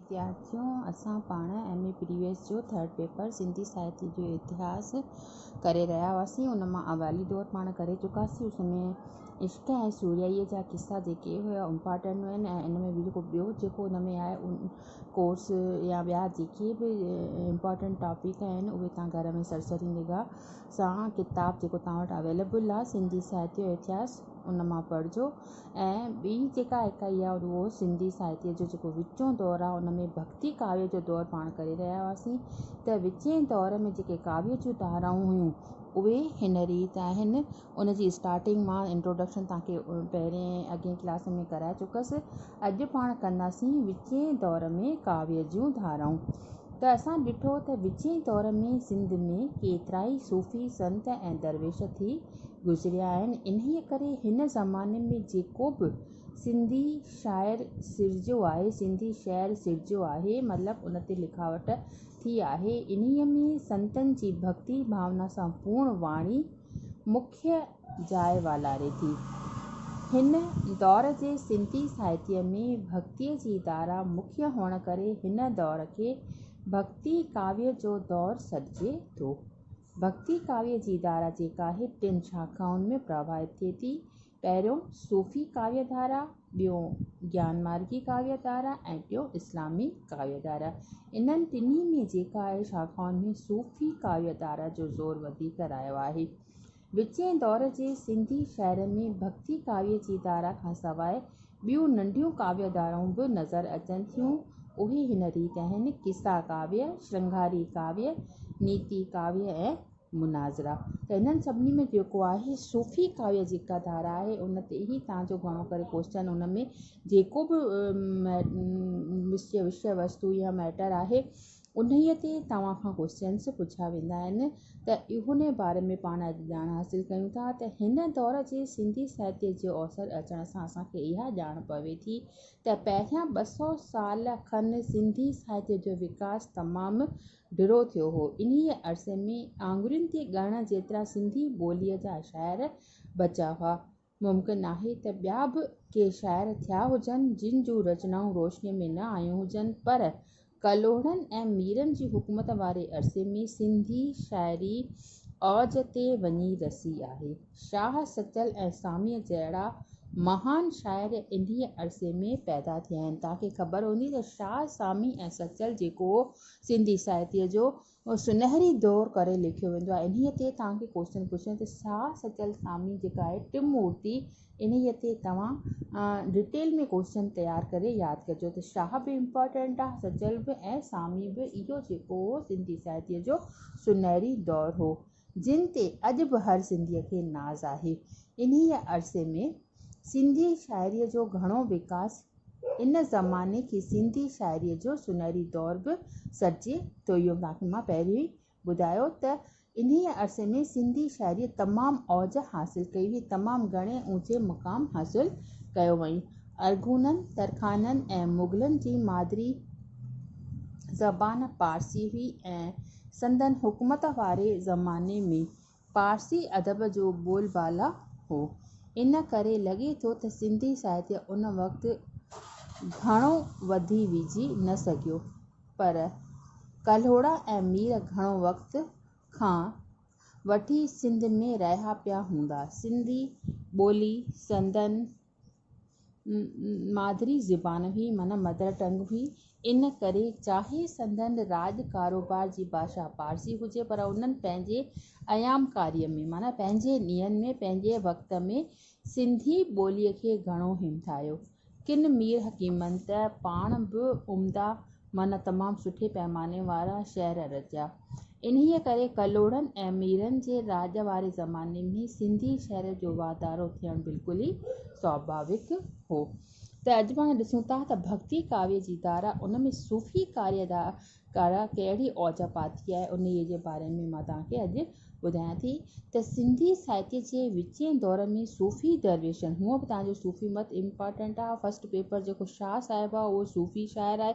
ويديارٿيو اسان پاڻ M A previous جو ٿرڊ پيپر سنڌي ساهتيه جو اتهاس ڪري رهيا هئاسين ان مان اوائلي دور پاڻ ڪري چڪاسين اس ۾ عشق ۽ سورهيائي جا قصا جيڪي هيا امپارٽنٽ هين ۽ ان ۾ به جيڪو ٻيو جيڪو ان ۾ آهي ان ڪورس يا ٻيا جيڪي به امپارٽنٽ ٽاپڪ آهن اهي تان گهر ۾ سرسري نگاهه سان ڪتاب جيڪو تان وٽ اوائليبل آهي سنڌي ساهتيه جو اتهاس ان مان پڙهجو ۽ ٻي جيڪا اڪائي آهي اهو سنڌي ساهتيه جو جيڪو وچون دور آهي ان ۾ ڀڳتي ڪاوي جو دور پاڻ ڪري رهيا هئاسين ته وچين دور ۾ جيڪي ڪاوي جون ڌارائون هيون اهي هن ريت آهن ان جي اسٽارٽنگ مان انٽروڊڪشن تان کي پهرين ۽ اڳين ڪلاس ۾ ڪرائي چڪس اڄ پاڻ ڪنداسين وچين دور ۾ ڪاوي جون ڌارائون. ته اسان ڏٺو ته وچين دور ۾ سنڌ ۾ ڪيترائي صوفي سنت ۽ درويش ٿي گذريا آهن، انهيء ڪري هن زماني ۾ جيڪو به سنڌي شاعر سرجيو آهي، سنڌي شعر سرجيو آهي، مطلب ان تي لکاوٽ ٿي آهي، انهيء ۾ سنتن جي ڀڳتي ڀاونا سان پورڻ واڻي مکيه جاء والاري ٿي. هن دور جي سنڌي ساهتيه ۾ ڀڳتيء جي ڌارا مکيه هئڻ ڪري هن دور کي ڀڳتي ڪاويه جو دور سڏجي ٿو. ڀڳتي ڪاويه جي ڌارا جيڪا آهي ٽن شاخائن ۾ پرواهت ٿئي ٿي. پهريون صوفي ڪاويه ڌارا، ٻيون گيان مارگي ڪاويه ڌارا ۽ ٽيون اسلامي ڪاويه ڌارا. انهن ٽنهي ۾ جيڪا آهي شاخائن ۾ صوفي ڪاويه ڌارا جو زور وڌيڪ رهيو آهي. وچين دور جي سنڌي شاعرن ۾ ڀڳتي ڪاويء جي ڌارا کان سواء ٻيون ننڍيون ڪاويه ڌارائون به نظر اچن ٿيون. اهي هن ريت آهن، قصا ڪاويه، شرنگاري ڪاويه، نيتي ڪاويه ۽ مناظرا. ته هنن سڀني ۾ جيڪو آهي صوفي ڪاويه جيڪا ڌارا آهي، ان تي ئي تان جو گهڻو ڪري ڪوشچن ان ۾ جيڪو به وشيه وستو يا مئٽر آهي، انهيء تي توهان کان ڪوئسچنس پڇيا ويندا آهن ته اهن باري ۾ پاڻ اڄ ڄاڻ حاصل ڪيون ٿا ته هن دور جي سنڌي ساهتيه جي اوسر اچڻ سان اسان کي اها ڄاڻ پوي ٿي ته پهريان ٻه سؤ سال کن سنڌي ساهتيه جو وڪاس تمام ڊرو ٿيو هو انهيء عرصي ۾ آڱرين تي ڳڻڻ جيترا سنڌي ٻوليء جا شاعر بچا هئا ممڪن آهي ته ٻيا به ڪي شاعر ٿيا هجن، جن جون رچنائون روشنيء ۾ نه آيون هجن، پر ڪلهوڙن ۽ ميرن جي حڪومت واري عرصي ۾ سنڌي شاعري اوج تي وڃي رسي آهي. شاهه سچل ۽ ساميء جهڙا مهان شاعر انهيء عرصي ۾ پيدا ٿيا آهن. توهان کي خبر هوندي ته شاهه، سامي ۽ سچل جيڪو هو، سنڌي ساهتيء جو اهو سنهري دور ڪري ليکيو ويندو آهي. انهيء تي توهان کي ڪوشچن پڇڻ تي شاهه سچل سامي جيڪا آهي ٽم مورتي انهيء تي توهان ڊٽيل ۾ ڪوشچن تيار ڪري ياد ڪجو ته شاهه به امپارٽنٽ آهي سچل به ۽ سامي به اهو جيڪو هو سنڌي ساهتيه جو سنهري دور هو. جن تي اڄ به هر سنڌيء کي ناز آهي. انهيء عرصي ۾ سنڌي شاعريء جو گهڻو وڪاس ان زماني کي سنڌي شاعريء جو سونهري دور به سڏجي ٿو. اهو توهان کي مان پهريون ئي ٻڌايو ته انهيء عرصي ۾ سنڌي شاعريء تمام اوج حاصل ڪئي هئي، تمام گهڻي اوچي مقام حاصل ڪيو هئائين. ارغونن، ترخانن ۽ مغلن جي مادري زبان پارسي هئي ۽ سندن حڪومت واري زماني ۾ پارسي ادب جو بول بالا هو. ان ڪري لڳي ٿو ته سنڌي ساهتيه ان وقت گهڻو وڌي ويجهي نه سگهيو. پر ڪلهوڙا ۽ مير گهڻو وقت کان وٺي سنڌ ۾ رهيا پيا هوندا. سنڌي ٻولي سندن مادري زبان هئي معنيٰ مدر ٽنگ هئي ان ڪري چاهي سندن راڄ ڪاروبار جي ڀاشا پارسي هجي پر انهن پنهنجي ايام ڪاري ۾ معنيٰ پنهنجي ڏينهن ۾ پنهنجي وقت ۾ سنڌي ٻولي کي گهڻو همٿايو ڪن مير حڪيمن ته پاڻ به عمدا معنيٰ تمام سٺي پيماني وارا شعر رچيا. انهيء ڪري ڪلهوڙن ۽ ميرن جي راڄ واري زماني ۾ سنڌي شعر جو واڌارو ٿيڻ بلڪل ئي سواڀاويڪ هو. ته اڄ پاڻ ڏسون ٿا ته ڀڳتي ڪاويي جي ڌارا، ان ۾ صوفي ڪاريء جي ڌارا ڪهڙي اوج پاتي آهي، انهيء جي باري ۾ مان توهان کي اڄ ٻڌايان ٿي ته سنڌي ساهتيه جي وچين دور ۾ صوفي درويشن، هونء به توهان جو صوفي مت امپارٽنٽ آهي، فرسٽ پيپر جيڪو شاهه صاحب آهي اهو صوفي شاعر آهي،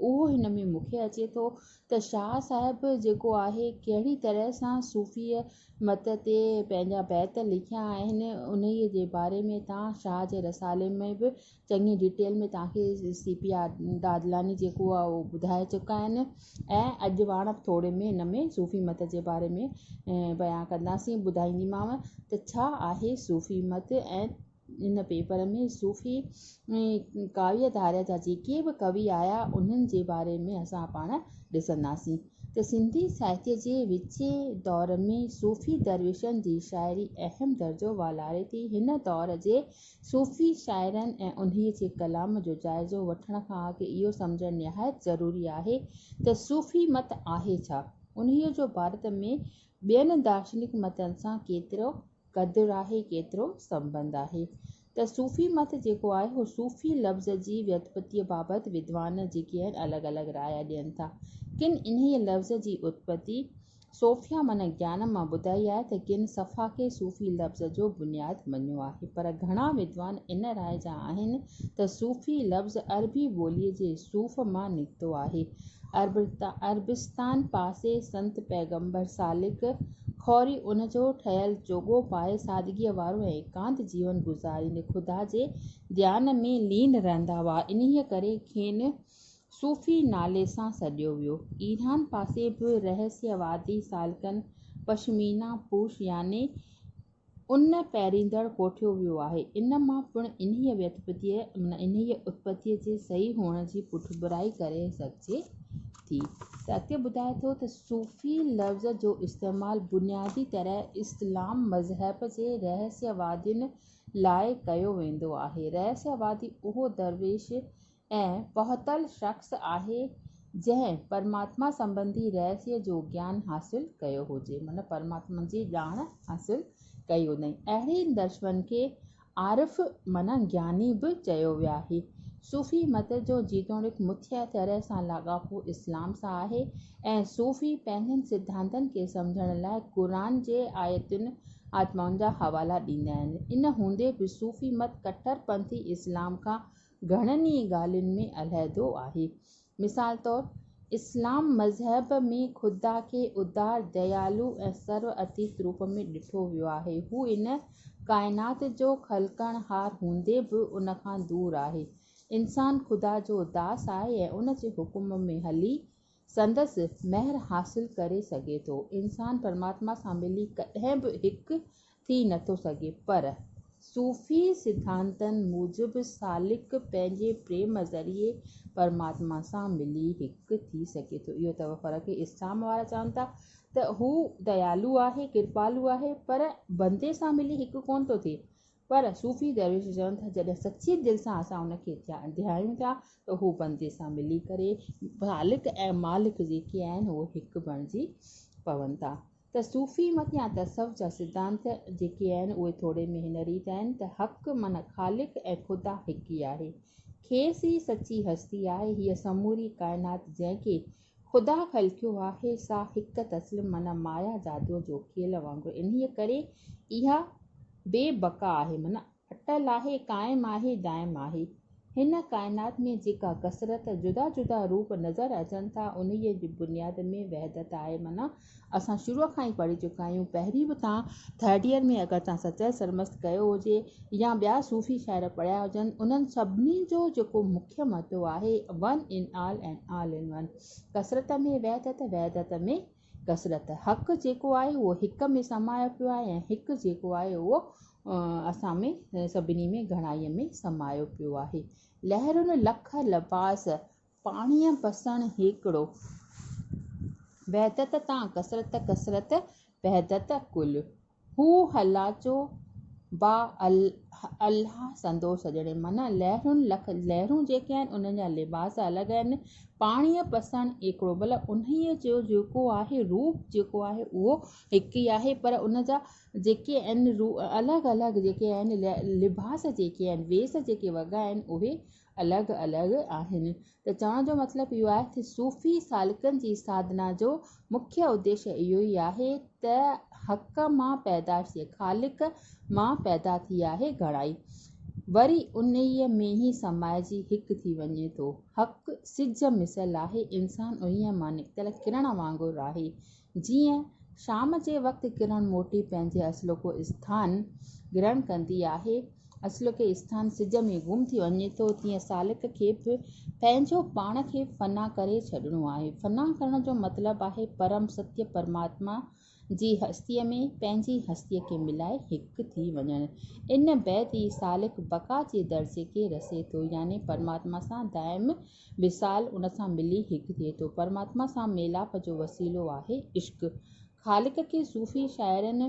اهو هن ۾ مون کي اچي ٿو ته شاهه صاحب جيڪو آهي ڪهڙي طرح سان صوفيء مت تي پنهنجا بيت لکيا آهن، انهيء جي باري ۾ توهان شاهه جي رسالي ۾ به چڱي ڊيٽيل ۾ توهان کي سي پي آر دادلاني جيڪو آهي اهو ٻڌائي چڪا آهن ۽ اڄ واڻ ٿوري ۾ هن ۾ صوفي مت جي باري ۾ بيان ڪنداسين ٻڌائينديمانو ته ڇا آهي صوفي مت ۽ ان پيپر ۾ صوفي ڪاويه ڌاريا جا جيڪي به ڪوي آيا انهن جي باري ۾ اسان پاڻ ڏسنداسين ته سنڌي ساهتيه جي وچين دور ۾ صوفي درويشن جي شاعري اهم درجو والاري ٿي هن دور جي صوفي شاعرن ۽ انهيء جي ڪلام جو جائزو وٺڻ کان اڳ اهو سمجهڻ نهايت ضروري آهي ته صوفي مت آهي ڇا؟ انهيء جو ڀارت ۾ ٻين دارشنڪ متن سان ڪيترو قدر آهي، ڪيترو سنٻنڌ آهي؟ ته صوفي مت جيڪو آهي اهو صوفي لفظ جي ويتپتيء بابت ودوان جيڪي آهن الڳ الڳ رايا ڏين ٿا. ڪن انهيء لفظ جي اتپتي صوفيا معنيٰ گيان مان ٻڌائي آهي ته ڪن صفا کي صوفي لفظ جو بنياد مڃيو آهي، پر گهڻا ودوان ان راء جا آهن ته صوفي لفظ عربي ٻوليء جي صوف مان نڪتو آهي. عربستان پاسي سنت پيغمبر سالڪ خوري ان جو ٺهيل چوغو پائي سادگيء وارو ۽ ايڪانت جيون گذاريندي خدا جي ڌيان ۾ لين رهندا هئا. انهيء ڪري کين صوفي نالي سان سڏيو ويو. ايران پاسي به رهسيوادي سالڪن پشمينا پوش يعني ان پهريندڙ ڪوٺيو ويو آهي. ان مان پڻ انهيء ويتپتيء معنيٰ انهيء اتپتيء جي صحيح هئڻ جي پٺڀرائي ڪري سگهجي ٿي ته اڳتي ٻڌائي ٿو ته صوفي لفظ جو استعمال بنيادي طرح اسلام مذهب جي رهسيوادين لاء ڪيو ويندو آهي. رهسيوادي اهو درويش ۽ پهتل شخص آهي جنهن پرماتما سنبنڌي رهسيء جو گيان حاصل ڪيو هجي معنيٰ پرماتما جي ڄاڻ حاصل ڪئي هجي. اهڙي درشمن کي عارف معنيٰ گياني به چيو ويو آهي. صوفي مت جو جيتوڻيڪ مٿيء طرح سان لاڳاپو اسلام سان آهي ۽ صوفي پنهنجن سڌانتن کي سمجهڻ لاء قرآن جي آيتن آتمائن جا حوالا ڏيندا آهن. ان هوندي به صوفي مت ڪٽر پنٿي اسلام کان گهڻن ئي ڳالهين ۾ علحدو آهي. مثال طور، اسلام مذهب ۾ خدا کي ادار، ديالو ۽ سرو اتيت روپ ۾ ڏٺو ويو آهي. هو ان ڪائنات جو خلقڻهار هوندي به ان کان دور آهي. انسان خدا جو داس آهي ۽ ان جي حڪم ۾ هلي سندس مهر حاصل ڪري سگهي ٿو. انسان پرماتما سان ملي ڪڏهن به هڪ ٿي نٿو سگهي پر صوفي سڌانتن موجب سالڪ پنهنجي پريم ذريعي پرماتما سان ملي هڪ ٿي سگهي ٿو. اهو ته فرق اسلام وارا چون ٿا ته هو ديالو آهي، ڪرپالو آهي پر بندي سان ملي هڪ ڪونه ٿو ٿئي پر صوفي درويش چون ٿا جڏهن سچي دل سان اسان ان کي ڌيايون ٿا ته اهو بندي سان ملي ڪري خالق ۽ مالڪ جيڪي آهن اهي هڪ بڻجي پون ٿا ته صوفي مت يا تصوف جا سڌانت جيڪي آهن اهي ٿوري ۾ هن ريت آهن ته حق معنيٰ خالق ۽ خدا هڪ ئي آهي کيس ئي سچي هستي آهي هيء سموري ڪائنات جنهن کي خدا خلقيو آهي سا هڪ تسلم معنيٰ مايا جادوء جو کيل وانگر انهيء ڪري اها بي بقا آهي معنيٰ اٽل آهي، قائم آهي، دائم آهي. هن ڪائنات ۾ جيڪا ڪثرت، جدا جدا روپ، نظر اچن ٿا انهيء جي بنياد ۾ وحدت آهي معنيٰ اسان شروع کان ئي پڙهي چڪا آهيون، پهرين به تان ٿرڊ ييئر ۾ اگر تان سچل سرمست ڪيو هجي يا ٻيا صوفي شاعر پڙهيا هجن، انهن سڀني جو جيڪو مکيه مدو آهي one in all and all in one, ڪثرت ۾ وحدت، وحدت ۾ ڪثرت. حق جيڪو آهي اهو هڪ ۾ سمايو پيو آهي ۽ هڪ جيڪو آهي اهو اسان ۾ سڀني ۾ گهڻائيء ۾ سمايو پيو آهي. لهرون لک لباس پاڻيء پسڻ هيڪڙو، وحدت تان ڪثرت، ڪثرت وحدت ڪل. هو هلاچو با الاهه سندو سڄڻي، معنيٰ لهرون لک لهرون جيڪي آهن، انهن جا لباس الڳ آهن. پاڻيء پسڻ هيڪڙو، ڀلا انهيء جو جيڪو آهي روپ جيڪو آهي اهو هڪ ئي آهي، پر ان جا جيڪي آهن الڳ الڳ جيڪي آهن لباس جيڪي آهن، ويس جيڪي وڳا آهن، اهي الڳ الڳ آهن ته چوڻ جو مطلب اهو آهي ته صوفي سالڪن جي ساڌنا جو مکيه اديش اهو ئي آهي ته حق مان پيدائش ٿئي، خالق مان پيدا ٿي آهي گهڻائي وري انهيء ۾ ئي سمائجي هڪ ٿي وڃي ٿو. حق سج مثل آهي، انسان انهيء مان نڪتل ڪرڻ وانگر آهي، جيئن شام جي وقت ڪرڻ موٽي پنهنجي اصلوڪو اسٿان گرهڻ ڪندي آهي، اصلوڪي اسٿان سج ۾ گم ٿي وڃي ٿو، تيئن سالڪ کي به پنهنجو پاڻ کي فنا ڪري ڇڏڻو آهي. فنا ڪرڻ جو مطلب آهي پرم ستيه پرماتما جي هستيء ۾ پنهنجي هستيء کي ملائي هڪ ٿي وڃڻ. ان بعد ئي سالڪ بقا جي درجي کي رسي ٿو يعني پرماتما سان دائم وصال ان سان ملي هڪ ٿئي ٿو. پرماتما سان ميلاپ جو وسيلو آهي عشق. خالق کي صوفي شاعرن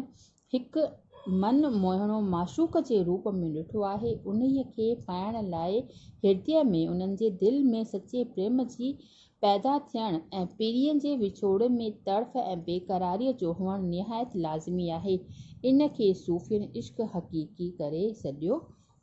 هڪ من موهڻو معشوق جي روپ ۾ ڏٺو آهي. انهيء کي پائڻ لاء هردي ۾ انهن جي دل ۾ سچي پريم جي پيدا ٿيڻ ۽ پرينء جي وڇوڙي ۾ تڙڦ ۽ بيقراريء جو هئڻ نهايت لازمي آهي. ان کي صوفين عشق حقيقي ڪري سڏيو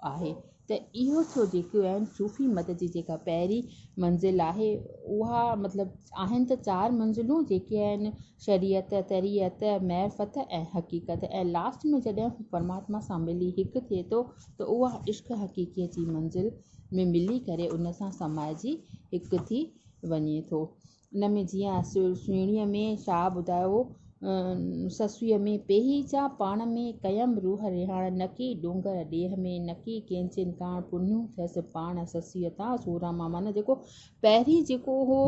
آهي ته اهو ٿيو جيڪي اهن صوفي مت جي جيڪا پهرين منزل آهي اها مطلب آهن ته چار منزلون جيڪي آهن شريعت، طريعت، معرفت ۽ حقيقت ۽ لاسٽ ۾ جڏهن هو پرماتما سان ملي هڪ ٿئي ٿو ته اها عشق حقيقيء جي منزل ۾ ملي ڪري ان سان سمائجي هڪ ٿي وڃي ٿو. ان ۾ جيئن سهڻيء ۾ شاهه ٻڌايو هو، سسئيء ۾ پيهي جا پاڻ ۾ ڪيم روح رهاڻ نڪي ڏونگر ڏيهه ۾ نڪي ڪينچين ڪاڻ پنهون ٿيس پاڻ سسئيء تان سوراما معنيٰ جيڪو پهرين جيڪو هو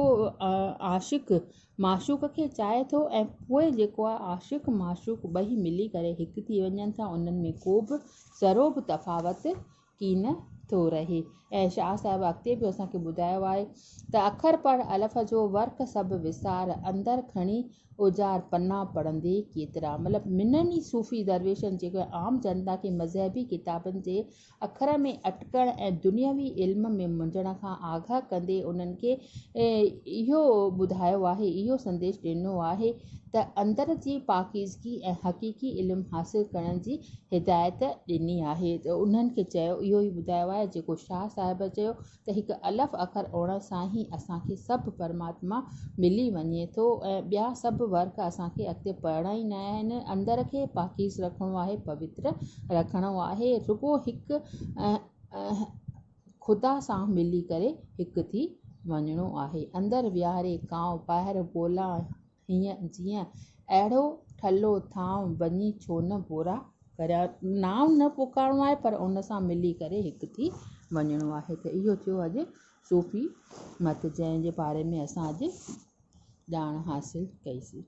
عاشق معشوق کي چاهي ٿو ۽ پوء جيڪو آهي عاشق معشوق ٻئي ملي ڪري هڪ ٿي وڃن ٿا انهن ۾ ڪو به ذرو به تفاوت ڪين ٿو رهي ۽ شاهه صاحب اڳتي به اسان کي ٻڌايو آهي ته اکر پڙهه الف جو ورق سڀ وسار اندر کڻي اوجار پنا پڙهندي ڪيترا مطلب منھن ئي صوفي درويشن جي عام جنتا کي مذهبي ڪتابن جي اکر ۾ اٽڪڻ ۽ دنيوي علم ۾ منجهڻ کان آگاهه ڪندي انھن کي اهو ٻڌايو آهي اهو سنديش ڏنو آهي ته اندر جي پاڪيزگي ۽ حقيقي علم حاصل ڪرڻ جي هدايت ڏني آهي ته انهن کي چيو، اهو ئي ٻڌايو آهي جيڪو شاهه صاحب چيو ته هڪ الف اکر اوڻڻ سان ئي اسان کي سڀ پرماتما ملي وڃي ٿو ۽ ٻيا سڀ ورق اسان کي اڳتي پڙهڻا ئي نه آهن اندر کي پاڪيز رکڻو آهي پوتر رکڻو آهي رڳو هڪ خدا سان ملي ڪري هڪ ٿي وڃڻو آهي. اندر ويهاري ڪانء ٻاهر بولا هينء جيئن اهڙو ٺلهو ٿانء وڃي ڇو نه بورا ڪريان. نانء نه پڪارڻو آهي پر ان سان ملي ڪري هڪ ٿي وڃڻو آهي ته اهو ٿيو اڄ صوفي مت جنهن جي باري ۾ اسان اڄ ڄاڻ حاصل ڪئي سي.